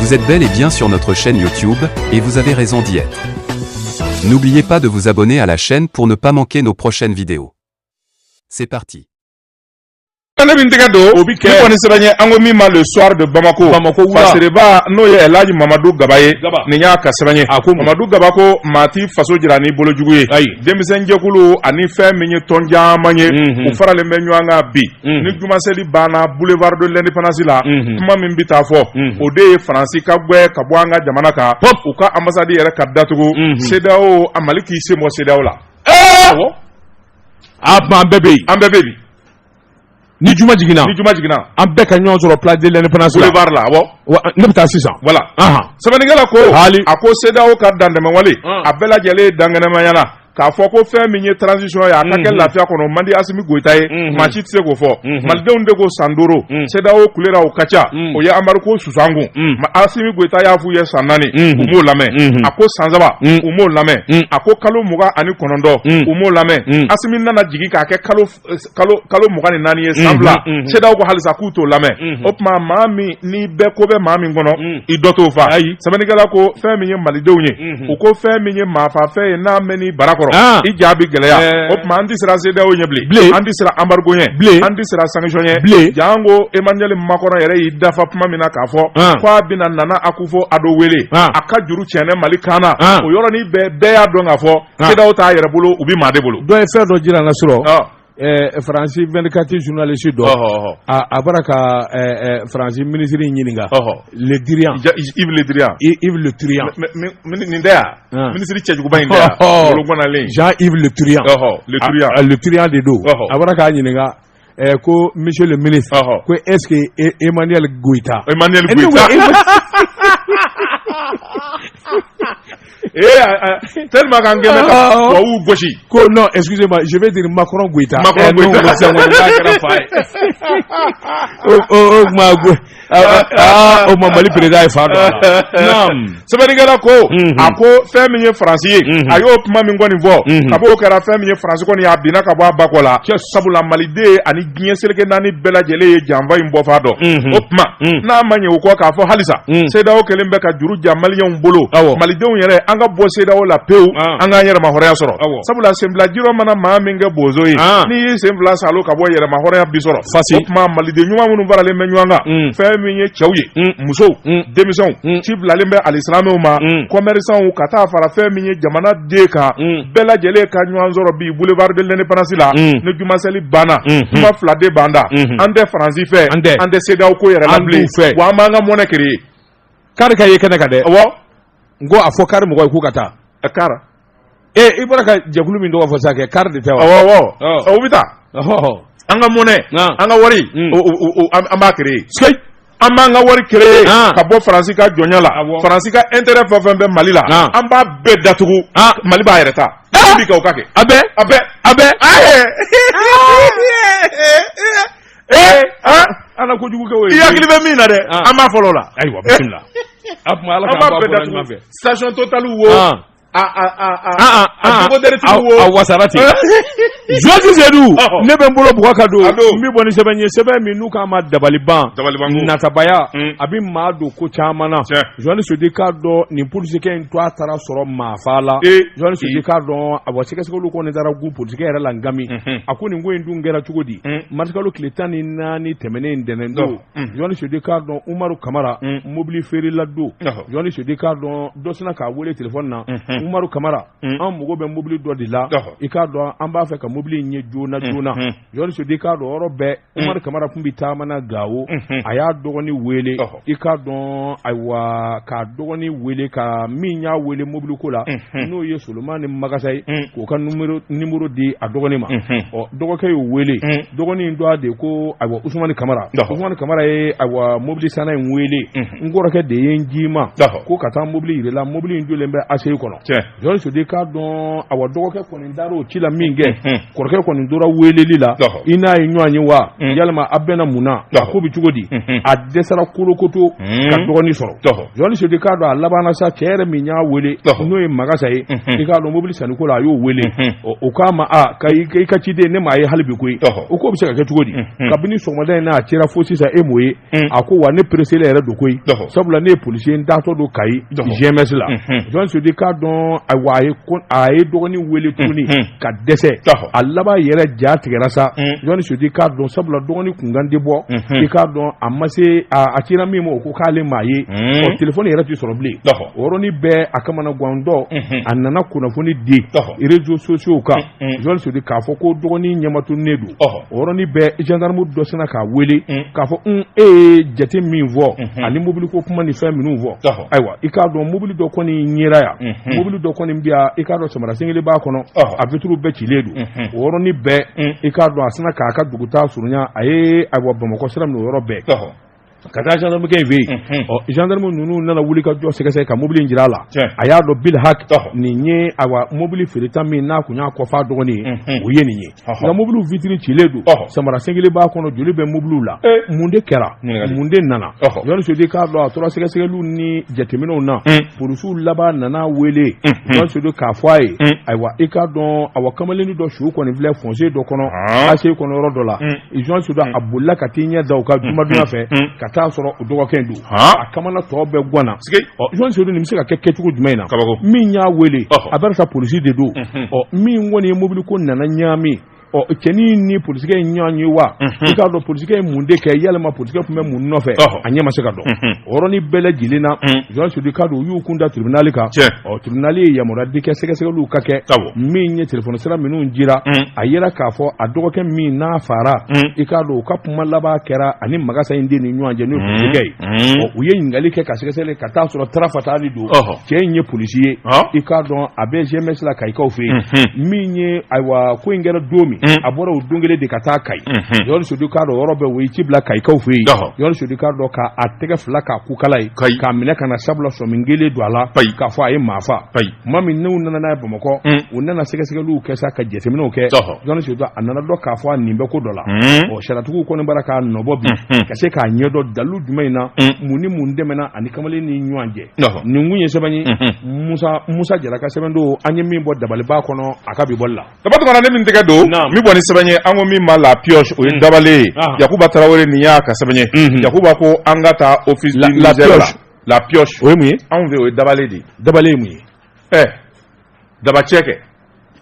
Vous êtes bel et bien sur notre chaîne YouTube, et vous avez raison d'y être. N'oubliez pas de vous abonner à la chaîne pour ne pas manquer nos prochaines vidéos. C'est parti. Tale min tɛgɛ don o bi kɛ ne kɔni sɛbɛn ye an ko min ma le soir de Bamako Bamako wula Fasiriba n'o ye Elhaji Mamadu Gaba ye Gaba nin y'a ka sɛbɛn ye a ko Mamadu Gaba ko maa t'i faso jira n'i bolo jugu ye ayi denmisɛnjɛkulu ani fɛn min ye tɔn caman ye u faralen bɛ ɲɔgɔn kan bi ni jumaseli banna boulevard de l'indépendance la kuma min bɛ taa fɔ o de ye faransi ka gɛn ka bɔ an ka jamana kan u ka ambassade yɛrɛ ka datugu CEDEAO a mali k'i sen bɔ CEDEAO la an bɛɛ bɛ an bɛɛ bɛ ni juma jiginna ni juma jiginna an bɛɛ ka ɲɔgɔn sɔrɔ place de l'indépendance la boulevard la awɔ wa ne bɛ taa sisan voilà sɛbɛnnikɛla ko hali a ko CEDEAO ka dantɛmɛwale a bɛɛ lajɛlen ye dankɛnɛmaya la k'a fɔ ko fɛn min ye transition ye a ka kɛ mhm. lafiya kɔnɔ man di Asimi Goyita ye mhm. maa si tɛ se k'o fɔ mhm. malidenw de ko san duuru CEDEAO kulera o ka ca o ye embargo sus'an kun Asimi Goyita y'a f'u ye san naani u m'o lamɛn a ko san saba u m'o lamɛn a ko kalo mugan ani kɔnɔntɔn u m'o lamɛn Asimi nana jigin k'a kɛ kalo kalo kalo mugan ni naani ye san fila CEDEAO ko halisa k'u t'o lamɛn o tuma maa min ni bɛɛ ko bɛ maa min kɔnɔ i dɔ t'o fa ayi sɛbɛnnikɛla ko fɛn min ye malidenw ye u ko fɛn min ye maafafɛn ye n'a mɛnn'i bara kɔrɔ i ja bi gɛlɛya o tuma an tɛ siran CEDEAO ɲɛ bilen bilen an tɛ siran embargo ɲɛ bilen an tɛ siran sanction ɲɛ bilen janko Emmanuel Macron yɛrɛ y'i dafa kuma min na k'a fɔ k'a bɛna Nana Akufo Addo wele a ka juru tiɲɛnɛ Mali kan na o yɔrɔnin bɛɛ bɛɛ y'a dɔn k'a fɔ Sew t'a yɛrɛ bolo u bɛ maa de bolo dɔ ye fɛn dɔ jira na sɔrɔ faransi vkati zunlalisi dɔ a bɔra ka faransi minisiriri ɲininka ledi nin tɛ minisiri cɛjuguba in len zan iur de don a bɔra k'a ɲininka ɛɛ ko monsieur le ministre Ɔhɔ. ko est ce que E- Emmanuel Goita Emmanuel Eh, ne ko Goita. Emma- Eh, ah, ah, tellement qu'an kɛlen bɛ ka Ah, ah. tubabuw gosi. ko non excusez moi je veux dire Macron Goita Macron Eh, non, Goita. ko sɛŋɛn n'a kɛra fa ye o o o tuma Go- o ma mali président ye fa sɛbɛnnikɛla ko a ko fɛn min ye faransi ye a y'o kuma min kɔni fɔ kab'o kɛra fɛn min ye faransi kɔni a binna ka bɔ a bakɔ la sabula maliden ani diɲɛ seleke naani bɛɛ lajɛlen ye janfa in bɔfan dɔn o tuma n'a ma ɲɛ o kɔ k'a fɔ halisa CEDEAO kɛlen bɛ ka juru ja maliyɛnw bolo malidenw yɛrɛ an ka bɔ CEDEAO la pewu an k'an yɛrɛmahɔrɔnya sɔrɔ sabula sen bila ji rɔ mana maa min kɛ bozo ye ah. n'i y'i sen fila salo ka bɔ yɛrɛmahɔrɔnya bi sɔrɔ fasi o tuma maliden ɲuman minnu faralen bɛ ɲɔgɔn kan mm. fɛn min ye cɛw ye mm. musow mm. denmisɛnw ci bilalen bɛ alisilamɛw ma kɔmɛrisanw ka taa fara fɛn min ye jamana den kan bɛɛ lajɛlen ka ɲɔgɔn sɔrɔ bi boulevard de l'indépendance la ni jumasɛli banna mm-hmm. kuma fila de b'an da mm-hmm. an tɛ faransi fɛ an tɛ cedeao ko yɛrɛ la bilen wa an b'an ka monnaie créer kari ka ye kɛnɛ kan dɛ awɔ n ko a fɔ kari mɔgɔ ye k'u ka taa a kara ee i bɔra ka jɛkulu min tɔgɔ fɔ sa kɛ kari de tɛ wa awɔ awɔ o bɛ taa an ka monnaie an ka wari mm. an b'a créer sikeyi an b'an ka wari créer ka bɔ faransi ka jɔnya la faransi ka intérêt fɛn fɛn bɛ mali la an b'a bɛɛ datugu mali b'a yɛrɛ ta bi ka o ka kɛ a bɛɛ a bɛɛ a bɛɛ ee ala kojugu kɛ o ye i hakili bɛ min na dɛ an b'a fɔlɔ o la ayiwa bisimila a tuma ala k'an bɔ a bɔra ɲuman fɛ station total wo wasara ten jɔnji sedu ne bɛ n bolo bugɔ ka don n bɛ bɔ ni sɛbɛn ye sɛbɛn min n'u k'a ma dabaliban natabaya hmm. a bɛ maa don ko caman na jɔnni sodi k'a dɔn nin polisikɛ in to a taara sɔrɔ maafa la jɔnni sodi k'a dɔn a wa sɛgɛsɛgɛli kɔni taara gu polisikɛ yɛrɛ la n nka min a ko nin ko in dun kɛra cogo di hmm. marisikalo tile tan ni naani tɛmɛnen in ntɛnɛn don jɔnni sudi k'a dɔn umaru kamara mobili feerela don jɔnni sudi k'a dɔn dɔ sinna k'a weele telefɔni na umaru kamara an mago bɛ mobili dɔ de la i k'a dɔn an b'a fɛ ka mobili in ye joona joona jɔnni sudi k'a dɔn o yɔrɔ bɛɛ umaru kamara tun bɛ taama na gawo a y'a dɔgɔni weele i k'a dɔn ayiwa k'a dɔgɔni weele ka min y'a weele mobili ko la n'o ye Solomani magasa ye k'o ka nimɔrɔ di a dɔgɔnin ma dɔgɔkɛ y'o weele dɔgɔnin tɔgɔ de ko ayiwa usumani kamara usumani kamara ye ayiwa mobili sanna in weele n kɔrɔkɛ de ye n ci i ma ko ka taa mobili yira i la mobili in jɔlen bɛ ACI kɔnɔ jɔn sudi k'a dɔn awa dɔgɔkɛ kɔni taara o ci la min kɛ kɔrɔkɛ kɔni tora weeleli la i n'a ye ɲɔgɔn ye wa yalima a bɛna mun na a ko bɛ cogo di a dɛsɛra kolokoto ka dɔgɔnin sɔrɔ jɔnni sudi k'a dɔn a labanna sa cɛ yɛrɛ min y'a weele n'o ye magasa ye i k'a dɔn mobili sanni ko la a y'o weele o k'a ma a i ka ciden ne m'a ye hali bi koyi o k'o bɛ se ka kɛ cogo di kabini sɔgɔmada in na a cira fo sisan e m'o ye a ko wa ne pereselen yɛrɛ don koyi sabula ne ye policier n datɔ don kayi GMS la jɔn sudi k'a dɔn awa a ye dɔgɔnin weele tuguni ka dɛsɛ a laban yɛrɛ ja tigɛra sa jɔnni sudi k'a dɔn sabula dɔgɔnin kunkan tɛ bɔ i k'a dɔn a ma se a cira min ma o ko k'ale m'a ye ɔ telefɔni yɛrɛ tɛ sɔrɔ bilen o yɔrɔnin bɛɛ a kamanagantɔ a nana kunnafoni di réseaux sociaux kan jɔnni sudi k'a fɔ ko dɔgɔnin ɲɛmatunnen don o yɔrɔnin bɛɛ zandarmu dɔ sinna k'a weele k'a fɔ e ye jate min fɔ ani mobili ko kuma ni fɛn minnu fɔ ayiwa i k'a dɔn mobili dɔ kɔni yera yan mobili dɔ kɔni bɛ yan i k'a dɔn samara sen kelen b'a kɔnɔ a vitiri bɛɛ cilen don o yɔrɔnin bɛɛ i k'a dɔn a sinna k'a ka dugutaa surunya a ye ayiwa bamakɔ sira minɛ o yɔrɔ bɛɛ ka taa jandamukɛ in fɛ yen ɔ jandamu ninnu nana wuli ka jɔ sɛgɛsɛgɛ ka mobili jira a la a y'a dɔn bil hak nin ye ayiwa mobili feereta min n'a tun y'a kɔf'a dɔgɔnin ye o ye nin ye nka mobili vitiri cilen don samara sen kelen b'a kɔnɔ joli bɛ mobiliw la mun de kɛra mun de nana jɔn sedu i k'a dɔn a tora sɛgɛsɛgɛliw ni jateminɛw na polisiw laban nana wele jɔn sedu k'a fɔ a ye ayiwa i k'a dɔn awa kamalennin dɔ su kɔni filɛ fossé dɔ kɔnɔ ACI kɔnɔ yɔrɔ dɔ la jɔn sedu a bolila ka t'i ɲɛ da u ka jumaduya fɛ ka t'a sɔrɔ o dɔgɔkɛ don a kamana tɔ bɛɛ ganna jɔn sedu nin bɛ se ka kɛ kɛcogo jumɛn in na min y'a wele a bɛ sa polisi de don min kɔni ye mobili ko nana ɲaami ɔ cɛnin ni polisikɛ in ɲɔgɔn cɛ wa i k'a dɔn polisikɛ ye mun de kɛ yalima polisikɛ tun bɛ mun nɔfɛ a ɲɛ ma se ka dɔn o yɔrɔnin bɛɛ lajɛlen na jɔn sedu k'a dɔn u y'u kun da tribunali kan ɔ tribunali ye yamaruya di kɛ sɛgɛsɛgɛliw ka kɛ min ye telefɔni sira minnu jira a yera k'a fɔ a dɔgɔkɛ min n'a fara i k'a dɔn u ka kuma laban kɛra ani masa in de ni ɲɔgɔn cɛ n'o ye polisikɛ ye u ye ɲininkali kɛ ka sɛgɛsɛgɛ ka t'a sɔrɔ tafatali don cɛ in ye polisi ye i k'a dɔn a bɛ GMS la kayikaw fɛ yen min ye ayiwa ko in kɛra don min a bɔra o don kelen de ka taa kayi sedu k'a dɔn yɔrɔ bɛɛ o ye ci bila kayikaw fɛ yen sedu k'a dɔn k'a tɛgɛ fila k'a kukala ye k'a minɛ ka na sabula sɔmi kɛlen don a la k'a fɔ a ye maa fa tuma min n'u nana n'a ye bamakɔ u nana sɛgɛsɛgɛliw kɛ sa ka jateminɛw kɛ jɔn sedu a nan'a dɔn k'a fɔ a nin bɛ ko dɔ la ɔ sariyatigiw kɔni b'a la k'a nɔbɔ bi ka se k'a ɲɛdɔn dalilu jumɛn in na mun ni mun tɛmɛna a ni kamalen ni ɲɔgɔn cɛ nin kun ye sɛbɛn ye musa jara ka sɛbɛn don an ye min bɔ dabaliban kɔnɔ a ka bi bɔli la dabatumana ne min tɛgɛ don min bɔ ni sɛbɛn ye an ko min ma la pioche o ye dabalen ye yakuba tarawele nin y'a ka sɛbɛn ye yakuba ko an ka taa office la la pioche o ye mun ye anw fɛ o ye dabale de ye dabale ye mun ye ɛ eh, dabacɛ kɛ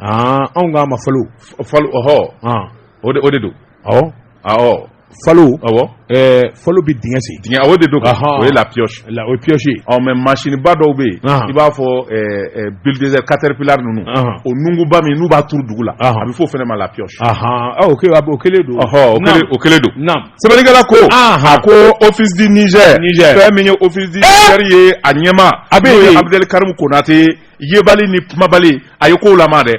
ah, anw k'a ma falo falo ɔhɔ ah. o de o de don awɔ awɔ falo awɔ ɛɛ eh, falo bɛ dingɛ sen dingɛ o de don o ye la pioche la o ye pioche ye ɔ mais mansinba dɔw bɛ yen ah. i b'a fɔ ɛɛ eh, ɛɛ bulldozer caterpillar ninnu o nunguba min n'u b'a turu dugu la a bɛ fɔ o fana ma la pioche ɔ o kelen o kelen don ɔhɔ o kelen o kelen don naam. sɛbɛnnikɛla ko a ko office du Niger fɛn min ye office du Niger ye a ɲɛmaa n'o ye Abudɛli Karimu Konate yebali ni kumabali a ye kow lama dɛ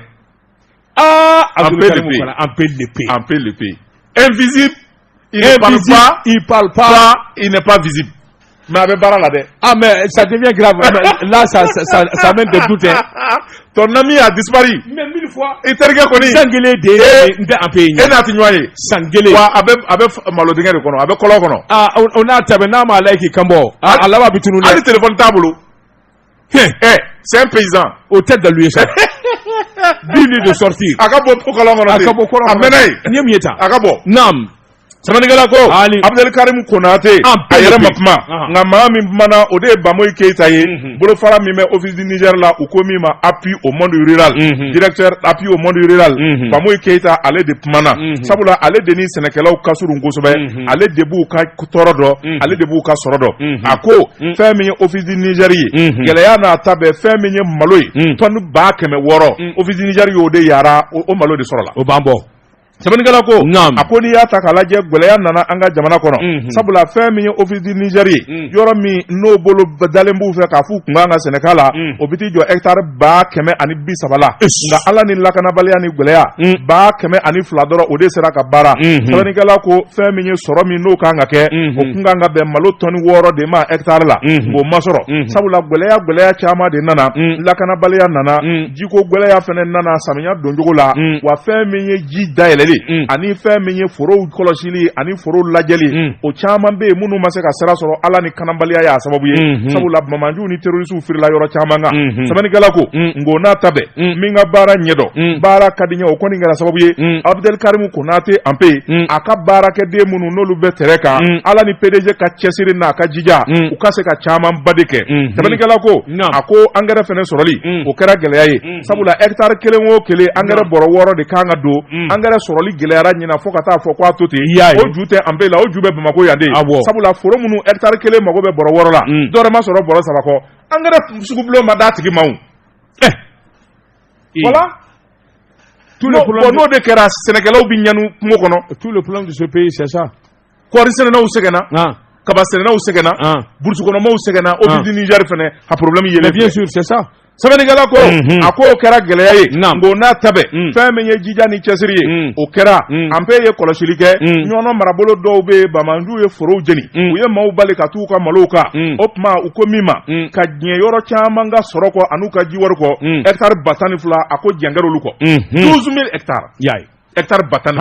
aa Abudɛli Karimu Konate on peut l'appeler on peut l'appeler invisible il ne parle pas il n'est pas visible mais a bɛ baara la dɛ ah mais ça devient grave là ça ça ça mène des doutes hein ton ami a disparu mais mille fois i terikɛ kɔni san kelen de n tɛ anpe ye e n'a ti ɲɔgɔn ye san kelen wa a bɛ a bɛ malo dingɛ de kɔnɔ a bɛ kɔlɔn kɔnɔ ah o n'a ta bɛɛ n'a m'a la k'i kan bɔ a laban bɛ tunun dɛ hali telefɔni t'a bolo Eh, c'est un paysan. Au tête de lui, ça. Dis-lui de sortir. A ka bɔ kɔlɔn kɔnɔ. A ka bɔ kɔnɔ. A mɛnna yen. N ye mun ye tan? A ka bɔ. Naam. Sɛbɛnnikɛla ko. Abdel Karim Konate. A yɛrɛ ma kuma. Nka maa min kumana o de ye Bamoyi Keyita ye. Mhm. Bolofara min bɛ Office du Niger la u ko min ma appui au monde rural. Mhm. Directeur appui au monde rural. Mhm. Bamoyi Keyita ale de kumana. Sabula ale de ni sɛnɛkɛlaw ka surun kosɛbɛ. ale de b'u ka tɔɔrɔ dɔn mm-hmm. ale de b'u ka sɔrɔ dɔn mm-hmm. a ko mm-hmm. fɛn min ye office du Niger ye gɛlɛya n'a ta bɛɛ fɛn min ye malo ye tɔni ba kɛmɛ wɔɔrɔ mm. office du Niger y'o de yara o malo de sɔrɔla o b'an bɔ sɛbɛnnikɛla ko a ko n'i y'a ta k'a lajɛ gɛlɛya nana an ka jamana kɔnɔ sabula fɛn min ye office du Niger ye mm. yɔrɔ min n'o bolodalen b'u fɛ k'a f'u kun kan ka sɛnɛ k'a la mm. o bɛ t'i jɔ hectare ba kɛmɛ ani bi saba la nka ala ni lakanabaliya ni gɛlɛya mm. ba kɛmɛ ani fila dɔrɔn o de sera ka baara mm-hmm. sɛbɛnnikɛla ko fɛn min ye sɔrɔ min n'o kan ka kɛ mm-hmm. o kun kan ka bɛn malo tɔni wɔɔrɔ de ma hectare la mm-hmm. o ma sɔrɔ sabula gɛlɛya gɛlɛya caman de nana mm. lakanabaliya nana jiko gɛlɛya fɛnɛ nana samiya doncogo la wa fɛn min ye ji dayɛlɛli ani fɛn min ye forow kɔlɔsi li ani foro lajɛli mm. o caman bɛ yen minnu ma se ka sira sɔrɔ ala ni kanabaliya y'a sababu ye mm-hmm. sabula banbaanciw ni terrorisiw firila yɔrɔ caman kan mm-hmm. sɛbɛnnikɛla ko mm. nk'o n'a ta bɛɛ mm. min ka baara ɲɛdɔn baara ka di ɲɛ o kɔni kɛra sababu ye abudel karimu konate anpe a ka baarakɛden minnu n'olu bɛ terrain kan ala ni pdg ka cɛsiri n'a ka jija u ka se ka camanba de kɛ mm-hmm. sɛbɛnnikɛla ko a ko angɛrɛ fɛnɛ sɔrɔli o kɛra gɛlɛya ye sabula hectare kelen o kelen angɛrɛ bɔrɔ wɔɔrɔ de kan ka don angɛrɛ sɔrɔli gɛlɛyara ɲina fo ka taa fɔ k'a to ten o ju tɛ anpe la o ju bɛ Bamakɔ yan de sabula foro minnu hectare kelen mago bɛ bɔrɔ wɔɔrɔ la dɔwɛrɛ ma sɔrɔ bɔrɔ saba kɔ angɛrɛ sugubulon ma d'a tigi ma o eh. voilà n'o de kɛra sɛnɛkɛlaw bɛ ɲani kungo kɔnɔ tout le problème de ce pays c'est ça kɔɔri sɛnɛnaw sɛgɛnna kaba sɛnɛnaw sɛgɛnna burusi kɔnɔmaw sɛgɛnna office du Niger fɛnɛ ka problème yɛlɛ bien sûr c'est ça sɛbɛnnikɛla ko mhm. a ko o kɛra gɛlɛya ye nk'o n'a ta bɛɛ mm. fɛn min ye jija ni cɛsiri ye mm. o kɛra mm. anpe ye kɔlɔsili kɛ ɲɔnɔ marabolo dɔw bɛ yen banbaanciw ye forow jeni u ye maaw bali ka t'u ka malow kan o tuma u ko min ma ka diɲɛ yɔrɔ caman ka sɔrɔ kɔ an'u ka jiwari kɔ hɛkitari ba tan ni fila a ko jɛn kɛr'olu kɔ 12000 hɛkitari hectare ba tan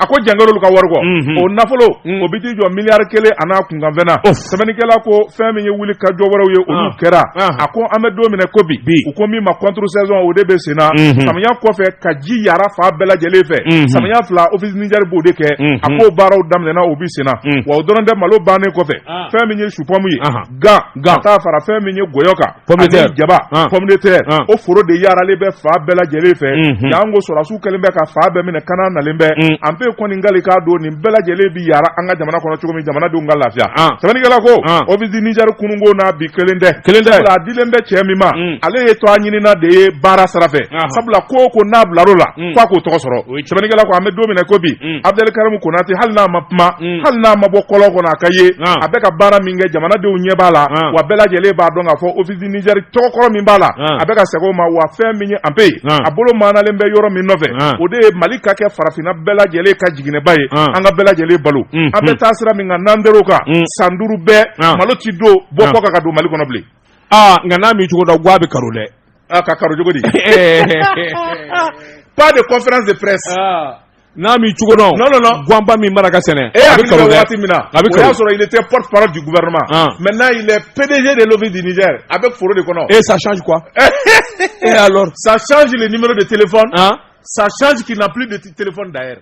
a ko angɛrɛ olu ka wari kɔ o nafolo o bɛ t'i jɔ miliyari kelen an'a kunkanfɛn na sɛbɛnnikɛla ko fɛn min ye wuli ka jɔ wɛrɛw ye olu kɛra a ko an bɛ don min na ko bi u ko min ma contre saison o de bɛ sen na samiya kɔfɛ ka ji yara fan bɛɛ lajɛlen fɛ samiya fila office du Niger b'o de kɛ a ko baaraw daminɛna u bɛ sen na wa o dɔrɔn tɛ malo bannen kɔfɛ fɛn min ye supɔmu ye gan gan ka taa fara fɛn min ye gɔyɔ kan ani jaba ah. pomme de terre ah. o foro de yaaralen bɛ fan bɛɛ lajɛlen fɛ mhm. janko sɔrɔdasiw kɛlen bɛ ka fan bɛɛ minɛ kana nalen bɛ mm. Empé kɔni kali k'a don nin bɛɛ lajɛlen bi yaara an ka jamana kɔnɔ cogo min jamanadenw ka lafiya ah. sɛbɛnnikɛla ko office du Niger kununko n'a bi kelen tɛ sabula a dilen bɛ cɛ min ma mm. ale ye tɔgɔɲinina de ye baara sira fɛ sabula ko o ko n'a bilar'o la mm. f'a k'o tɔgɔ sɔrɔ sɛbɛnnikɛla ko an bɛ don min na ko bi mm. Abdel Karim Konate hali n'a ma kuma mm. hali n'a ma bɔ kɔlɔn kɔnɔ a ka ye ah. a bɛ ka baara min kɛ jamanadenw ɲɛ b'a la ah. wa bɛɛ lajɛlen b'a dɔn k'a fɔ office du Niger tɔgɔ kɔrɔ min b'a la ah. a bɛ ka segin o ma wa fɛn min ye Empé ye a bolo maanalen bɛ yɔrɔ min nɔfɛ o de ye mali ka kɛ farafinna bɛɛ lajɛlen ka jiginɛba ye an ka bɛɛ lajɛlen balo an bɛ taa sira min kan n'an der'o kan san duuru bɛɛ malo ti don bɔ kɔkan ka don mali kɔnɔ bilen aa nka n'a m'i cogo dɔn guwa bɛ karo dɛ aa ka karo cogo di pas de conférence de presse n'a m'i cogo dɔn non non non guwanba min mara ka sɛnɛ e a bɛ karo dɛ waati min na a bɛ karo o y'a sɔrɔ il était porte parole du gouvernement maintenant il est PDG de l'office du Niger a bɛ foro de kɔnɔ et ça change quoi et alors ça change le numéro de téléphone ça change qu'il n'a plus de téléphone d'ailleurs